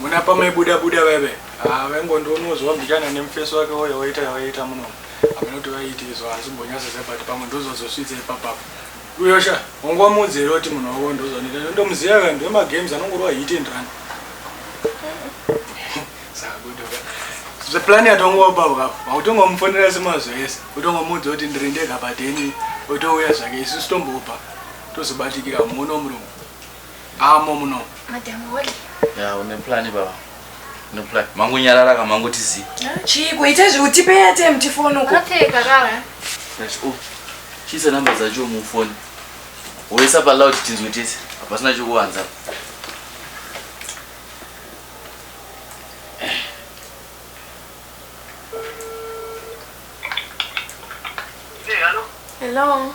muna pamaibuda buda vaive ah, vaingondionozwa mbichana nemufeso wake woyo woita yavaiita muno hameno kuti vaiiti izvo asi mbonyasese but pamwe ndozozosvitse ipapapo uyosha wangu wamuudzere kuti munhu wavo ndozonita ndomuziva vanhu vemagames anongorova hit and run sakudoka zveplan yatongowapavka vautongomufonera semazo ese utongomuudza kuti ndiri ndega pateni otouya zvake isu sitombopa tozobatikira muono murungu Ah mom no. Madam Holly. Ya une plan baba. Une plan. Mangu nyarara ka mangu tizi. Chii kuita zve utipe ya time tifone uko. Okay karara. Yes oh. Chisa number za jo mu phone. Woisa pa loud tinzwe tese. Hapasina chokuwanza. Hello. Hello.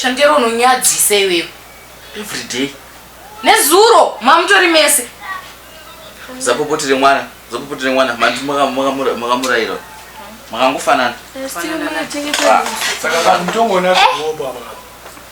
shandiro unonyadzisa iwewe everyday nezuro mamutori mese zapopotire mwana zapopotire mwana mandi makamurayira makangofanana eh, saka vanhu tongonaa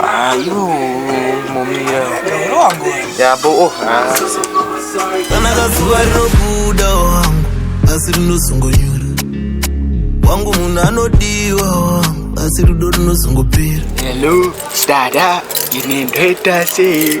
Ayo, momira. Yabo, oh, hasi. Kana kazuva rinobuda wangu, asi rinozongonyura. Wangu munhu anodiwa wangu, asi rudo rinozongopera. Hello, dada, ine ndoita sei?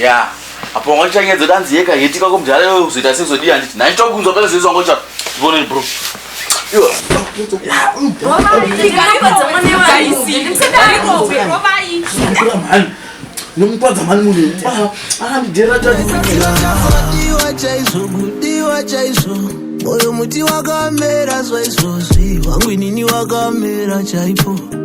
ya apo wanga uchanyedza danzi yeka heti kako mudhara iwe uzoita sezodii handiti nhai tokunzwa pele zvezvo wanga ucha ivoneni bro nomukwadza mani munhu aramidhera kudiwa chaizvo kudiwa chaizvo moyo muti wakamera zvaizvozvi wangu inini wakamera chaipo